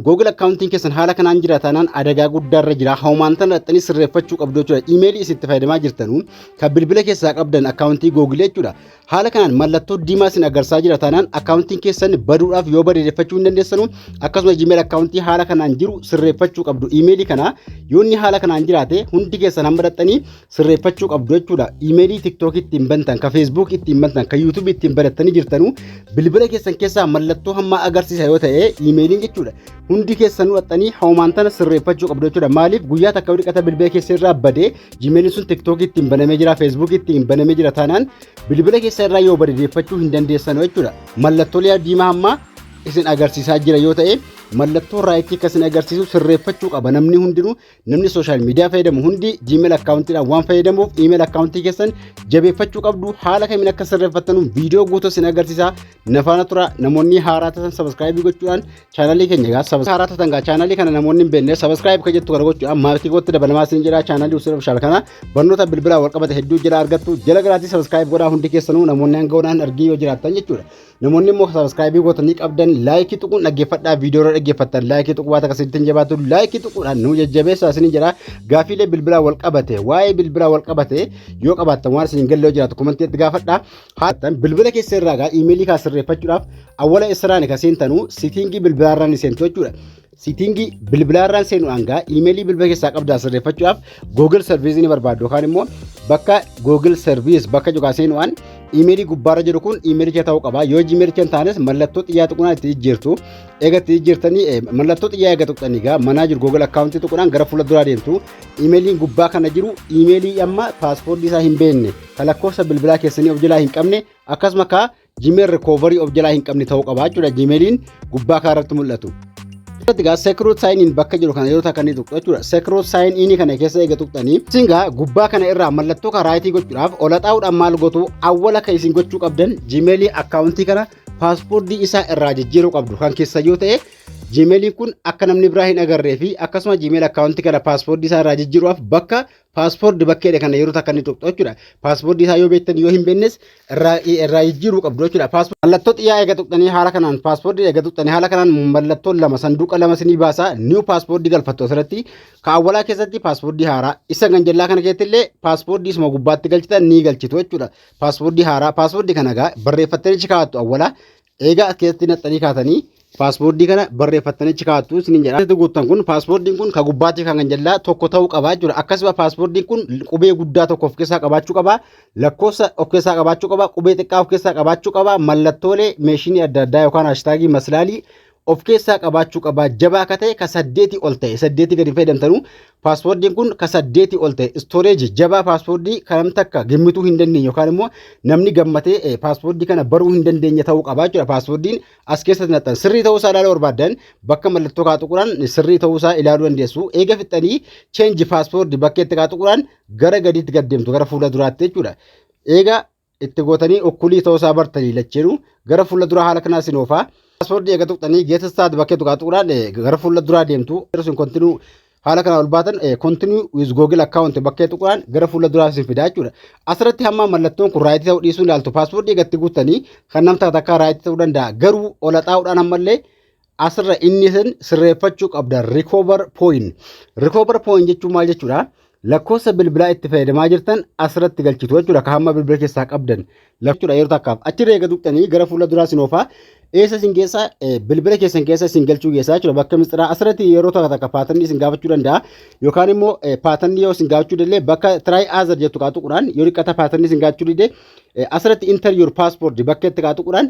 Google akkaawuntiin keessan haala kanaan jira taanaan adagaa guddaarra jira. Hawmaan tana dhaxxanii sirreeffachuu qabdu jechuudha. Imeelii isin itti fayyadamaa jirtanu kan bilbila keessaa qabdan akkaawuntii Google jechuudha. Haala kanaan mallattoo diimaa isin agarsiisaa jira taanaan akkaawuntiin keessan baduudhaaf yoo badeeffachuu hin dandeessanu akkasuma Gmail akkaawuntii haala kanaan jiru sirreeffachuu qabdu. Imeelii kana yoo inni haala kanaan jiraate hundi keessan hamma dhaxxanii sirreeffachuu qabdu jechuudha. Imeelii TikTok ittiin bantan, ka Facebook ittiin bantan, ka YouTube ittiin banattanii jirtanuu bilbila keessan keessaa mallattoo hammaa agarsiisa yoo ta'e imeeliin jechuudha. Hundi keessanuu dhaxxanii hoomaan tana sirreeffachuu qabdu jechuudha. Maaliif guyyaa takka yoo dhiqata bilbila keessa irraa badee Gmailin sun TikTok ittiin banamee jira, Facebook ittiin banamee jira taanaan bilbila keessa irraa yoo bade deeffachuu hin dandeessanu jechuudha. Mallattoolee diimaa hammaa isin agarsiisaa jira yoo ta'e mallattoo raayitii akka isin agarsiisu sirreeffachuu qaba namni hundinuu Namni sooshaal miidiyaa fayyadamu hundi Gmail akkaawuntiidhaan waan fayyadamuuf email akkaawuntii keessan jabeeffachuu qabdu haala kamiin akka sirreeffattanu viidiyoo guutuu isin agarsiisa nafaana tura namoonni haaraa tatan sabaskiraayibii gochuudhaan chaanalii keenya gaa sabas haaraa tatan gaa chaanalii kana namoonni hin beekne sabaskiraayib kan jettu kana gochuudhaan maatii kootti dabalamaa isin jedha chaanalii usuun ofishaal kana barnoota bilbilaa wal qabate hedduu jala argattu jala garaatii sabaskiraayib godhaa hundi keessanuu namoonni hanga godhaan argii yoo jiraattan jechuudha. Namoonni immoo sabiskiraayibii gootanii qabdan laayikii tuquun dhaggeeffadhaa viidiyoo irra dhaggeeffattan laayikii tuquu baata akkasitti hin jabaatu laayikii tuquudhaan nu jajjabeessaa isin jira gaafiilee bilbilaa wal qabate waa'ee bilbilaa wal qabate yoo qabaattan waan isin galle yoo jiraatu komantii itti gaafadhaa haatan bilbila keessa irraa gaa iimeelii kaa sirreeffachuudhaaf awwala israani ka seentanu sitiingii bilbilaa irraa ni seentu jechuudha Siitiingii bilbilaa irraan seenuudhaan gaa iimeelii bilbila keessaa qabdaan sirreeffachuudhaaf Google Service ni barbaaddu yookaan immoo bakka Google Service bakka jedhu seenuudhaan iimeelii gubbaarra jiru kun iimeelicha ta'uu qaba. Yoo iimeelicha hin taanes mallattoo xiyyaa tuqunaan itti jijjiirtu. Eega itti jijjiirtanii mallattoo xiyyaa eega tuqxanii gaa manaa jiru Google akkaawuntii tuqunaan gara fuula duraa deemtu. Iimeeliin gubbaa kana jiru iimeelii amma paaspoortii isaa hin beekne kan lakkoofsa bilbilaa keessanii of jalaa hin qabne akkasuma kaa Gmail recovery of jalaa hin qabne ta'uu qaba jechuudha Gmailiin gubbaa kana irratti mul'atu. Irratti gaa secret sign in bakka jiru kana yeroo takka ni tuqxu jechuudha. Secret sign in kana keessa eega tuqxanii isin gaa gubbaa kana irraa mallattoo kan raayitii gochuudhaaf ol haxaa'uudhaan maal gootu awwala kan isin gochuu qabdan Gmail akkaawuntii kana paaspoortii isaa irraa jijjiiruu qabdu kan keessa yoo ta'e Gmailiin kun akka namni biraa hin agarree fi akkasuma Gmail akkaawuntii kana paaspoortii isaa irraa jijjiiruudhaaf bakka Paaspoordi bakkeedha kana yeroo takka ni tuqxu jechuudha. Paaspoordi isaa yoo beektan yoo hin beeknes irraa irraa jijjiiruu qabdu jechuudha. Paaspoordi mallattoo xiyyaa eega tuqxanii haala kanaan paaspoordi eega tuqxanii haala kanaan mallattoo lama sanduuqa lama sinii baasaa niiw paaspoordi galfattu asirratti kaawwalaa keessatti paaspoordi haaraa isa kan jallaa kana keessatti illee paaspoordi isuma gubbaatti galchitan ni galchitu jechuudha. Paaspoordi haaraa paaspoordi kana egaa barreeffattanii kaa'attu awwalaa Eegaa as keessatti naxxanii kaatanii paaspoortii kana barreeffattanii achi kaa'attu isiniin jedha. Keessatti guuttan kun paaspoortiin kun kan gubbaatti kan jallaa tokko ta'uu qabaa jechuudha. Akkasuma paaspoortiin kun qubee guddaa tokko of keessaa qabaachuu qabaa, lakkoofsa of keessaa qabaachuu qabaa, qubee xiqqaa of keessaa qabaachuu qabaa, mallattoolee meeshinii adda addaa yookaan haashtaagii maslaalii of keessaa qabaachuu qabaa. Jabaa akka ta'e ka saddeetii ol ta'e saddeetii gadi fayyadamtanuu Paaspoordiin kun ka saddeetii ol ta'e istooreejii jabaa paaspoordii kan namni takka gimmituu hin dandeenye yookaan immoo namni gammatee eh, paaspoordii kana baruu hin dandeenye ta'uu qaba jechuudha. Paaspoordiin as keessatti naqxan sirrii ta'uu isaa ilaaluu barbaaddan bakka mallattoo kaa tuquraan sirrii ta'uu isaa ilaaluu dandeessu. Eega fixxanii cheenji paaspoordii bakkeetti kaa tuquraan gara gadiitti gad deemtu gara fuula duraatti jechuudha. Eega itti gootanii ukkulii ta'uu isaa bartanii lacheenu gara fuula duraa haala kanaa isin oofaa paaswoordii eega tuqxanii geeta staad bakkee tuqaa tuqnaan gara fuula duraa deemtu isin kontinuu haala kanaa ol baatan kontinuu wiz googil akkaawunti bakkee tuqnaan gara fuula duraa isin fidaa jechuudha asirratti hamma mallattoon kun raayitii ta'uu dhiisuu ilaaltu paaswoordii eegatti guuttanii kan namtaa takkaa raayitii ta'uu danda'a garuu olaxaa'uudhaan ammallee asirra inni isin sirreeffachuu qabdan recover point. Recover point jechuun maal jechuudha? Lakkoofsa bilbilaa itti fayyadamaa jirtan asirratti galchitu jechuudha. Kan hamma bilbila keessaa qabdan lakkoofsa yeroo takkaaf achi reega tuqxanii gara fuula duraa isin oofaa eessa isin keessa bilbila keessan keessa isin galchuu keessaa jechuudha. Bakka mistiraa asirratti yeroo takka takka paatanni isin gaafachuu danda'a yookaan immoo paatanni yoo isin gaafachuu danda'e bakka try other jettu kaatuqudhaan yoo dhiqata paatanni isin gaafachuu dide asirratti enter your passport bakka itti kaatuqudhaan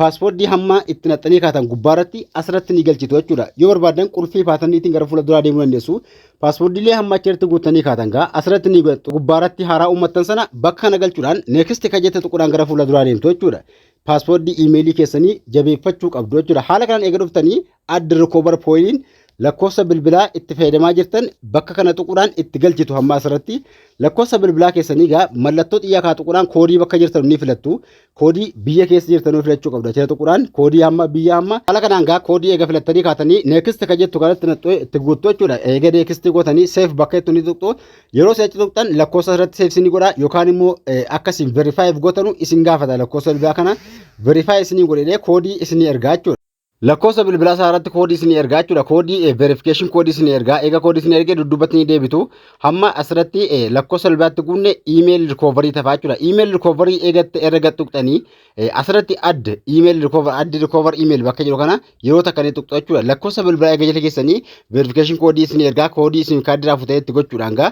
Paaswoordii hamma itti naxxanii kaatan gubbaa irratti asirratti ni galchitu jechuudha. Yoo barbaadan qulfii paatanniitiin gara fuula duraa deemuu dandeessu. Paaswoordiilee hamma achi irratti guuttanii kaatan gaa asirratti ni godhattu. Gubbaa irratti haaraa uummattan sana bakka kana galchuudhaan neeksti kan jette tuquudhaan gara fuula duraa deemtu jechuudha. Paaswoordii iimeelii keessanii jabeeffachuu qabdu jechuudha. Haala kanaan eega dhuftanii Add recover poin lakkoofsa bilbilaa itti fayyadamaa jirtan bakka kana tuquudhaan itti galchitu hamma asirratti lakkoofsa bilbilaa keessanii egaa mallattoo xiyyaa kaa tuquudhaan koodii bakka jirtan ni filattu koodii biyya keessa jirtanuu filachuu qabdu achirra tuquudhaan koodii hamma biyya hamma haala kanaan egaa koodii eega filattanii kaatanii neekist ka jettu kanatti naxxoo itti guuttu jechuudha eega neekistii gootanii seef bakka jettu ni tuqxu yeroo seechi tuqxan lakkoofsa irratti seef isinii godha yookaan immoo akkasiin verifaayiif gootanu isin gaafata lakkoofsa bilbilaa kana verifaayi isinii godhee koodii isinii ergaa jechuudha. Lakkoofsa bilbilaa isaa irratti koodii isinii ergaa jechuudha. Koodii verification koodii isinii ergaa. Eega koodii isinii ergee dudduubatti ni deebitu. Hamma asirratti lakkoofsa bilbilaatti guunne email recovery tafaa jechuudha. Email recovery eegatte erga gad tuqxanii asirratti add email recover add recover email bakka jiru kana yeroo takka ni tuqxu jechuudha. Lakkoofsa bilbilaa eega jala keessanii verification koodii isinii ergaa koodii isin kaardii irraa futee itti gochuudhaan gaa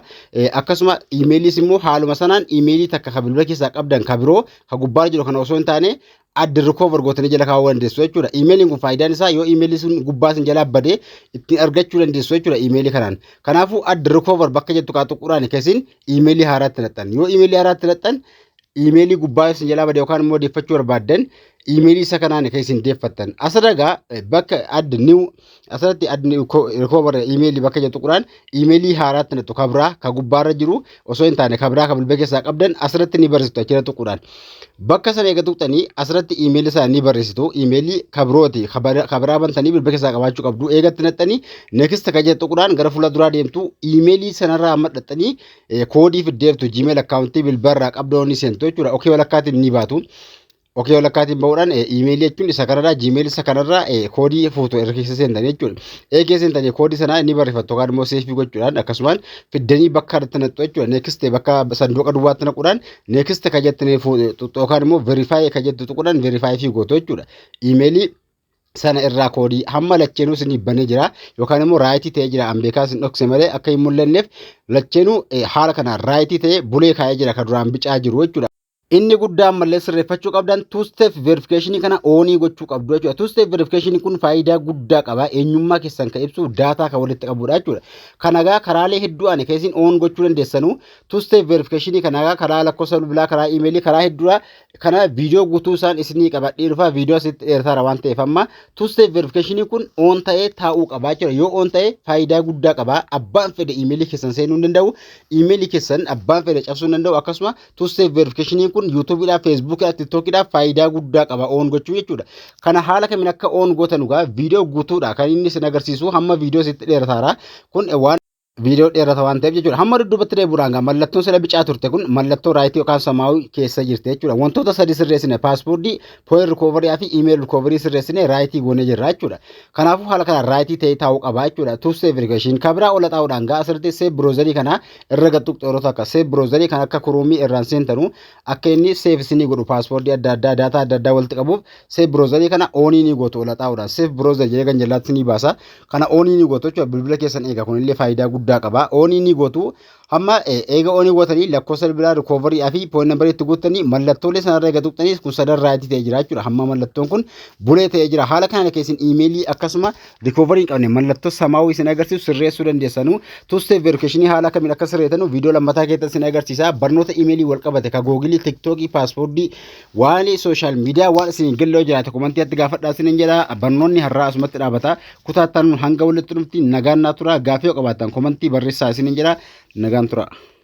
akkasuma emailiis immoo haaluma sanaan emailii takka ka bilbila keessaa qabdan ka biroo ka gubbaarra jiru kana osoo hin taane add recover gootanii jala kaa'uu dandeessu jechuudha. Iimeeliin kun faayidaan isaa yoo iimeelii sun gubbaa sin jalaa badee ittiin argachuu dandeessu jechuudha iimeelii kanaan. Kanaafuu add recover bakka jettu kaa tuquudhaan kesin iimeelii haaraatti naxxan. Yoo iimeelii haaraatti naxxan iimeelii gubbaa sin jalaa badee yookaan immoo deeffachuu barbaaddan iimeelii isa kanaan kesin deeffattan. Asadagaa bakka add new Asirratti adni recover email bakka jedhu tuqnaan email haaraatti nattu ka biraa ka gubbaarra jiru osoo hin taane ka biraa ka bilbila keessaa qabdan asirratti ni barreessitu achirra tuqnaan. Bakka sana eega tuqxanii asirratti email isaa ni barreessitu email ka birooti ka bara- ka biraa bantanii bilbila keessaa qabaachuu qabdu eegatti naxxanii next ka jedhu tuqnaan gara fuula duraa deemtu email sanarraa amma dhaxxanii eh, koodii fiddeertu gmail akkaawuntii bilbila irraa qabdoo ni seentu jechuudha. Okee walakkaatiin ni baatu. Okee walakkaatiin ba'uudhaan iimeelii jechuun isa kanarraa jiimeelii isa kanarraa koodii fuutu erga keessa seentan jechuudha. Ee keessa seentanii koodii sanaa ni barreeffattu yookaan immoo seefii gochuudhaan akkasumaan fiddanii bakka irratti naqxu jechuudha. Neekiste bakka sanduuqa duwwaatti naquudhaan neekiste kan jettan yookaan immoo verifaayi kan jettu tuquudhaan verifaayi fi gootu jechuudha. Iimeelii sana irraa koodii hamma lacheenuu isinii banee jira yookaan immoo raayitii ta'ee jira an beekaa isin dhokse malee akka hin mul'anneef lacheenuu haala kanaan raayitii ta'ee bulee kaa'ee jira kan duraan bicaa jiru jechuudha. Inni guddaa ammallee sirreeffachuu qabdan two step verification kana oonii gochuu qabdu jechuudha. Two step verification kun faayidaa guddaa qaba. Eenyummaa keessan kan ibsu daataa kan walitti qabudha jechuudha. Kanagaa karaalee hedduu ani keessin oon gochuu dandeessanu two step verification kanagaa karaa lakkoofsa bilbilaa karaa imeelii karaa hedduudha. Kana viidiyoo guutuu isaan isinii qabadhee dhufa viidiyoo asitti dheerataara waan ta'eef amma two step verification kun oon ta'ee taa'uu qaba jechuudha. Yoo oon ta'e faayidaa guddaa qaba. Abbaan fedhe imeelii keessan seenuu hin danda'u. Imeelii keessan abbaan fedhe cabsuu hin danda'u akkasuma two step verification kun YouTube dha, Facebook dha, TikTok dha faayidaa guddaa qaba on gochuu jechuudha. Kana haala kamiin akka on gootan dhugaa viidiyoo guutuudha kan inni isin agarsiisu hamma viidiyoo sitti dheerataara kun waan viidiyoo dheerata waan ta'eef jechuudha. Hamma dudduubatti deebi'uudhaan gaa mallattoon sila bicaa turte kun mallattoo raayitii yookaan samaawii keessa jirti jechuudha. Wantoota sadii sirreessine paaspoortii, pooyin rikoovarii fi iimeeyil rikoovarii sirreessine raayitii goonee jirra jechuudha. Kanaafuu haala kanaan raayitii ta'ee taa'uu qaba jechuudha. Tuustee verifikashin kabiraa ola taa'uudhaan gaa asirratti seef biroozarii kana irra gad tuqxu yeroo takka seef biroozarii kan akka kuruumii irraan seentanu akka inni seef isinii godhu paaspoortii adda addaa daataa adda addaa walitti qabuuf seef biroozarii kana oonii ni gootu olaxaa'uudhaan seef biroozer jedhee kan jallaatti ni baasa kana oonii ni gootu jechuudha bilbila keessan eega kunillee faayidaa guddaa qaba oonii ni gootu hamma eega oonii gootanii lakkoofsa bilbilaa rikoovarii fi pooyin nambarii itti guuttanii mallattoolee sanarra eega tuqxanii kun sadarraa itti ta'e jira jechuudha hamma mallattoon kun bulee ta'e jira haala kanaan keessin iimeelii akkasuma Rikoovarii hin qabne mallattoo samaawuu isin agarsiisu sirreessuu dandeessanu. Two step verification haala kamiin akka sirreetanu viidiyoo lammataa keessatti isin agarsiisa. Barnoota imeelii wal qabate ka googilii, tiktookii, paaspoortii, waan sooshaal miidiyaa waan isin hin galle yoo jiraate komantii atti gaafadhaa isin hin jedha. Barnoonni har'aa asumatti dhaabata. Kutaa itti aanu hanga walitti dhufnutti nagaan naa tura. Gaaffii yoo qabaattan komantii barreessaa isin hin jedha. Nagaan tura.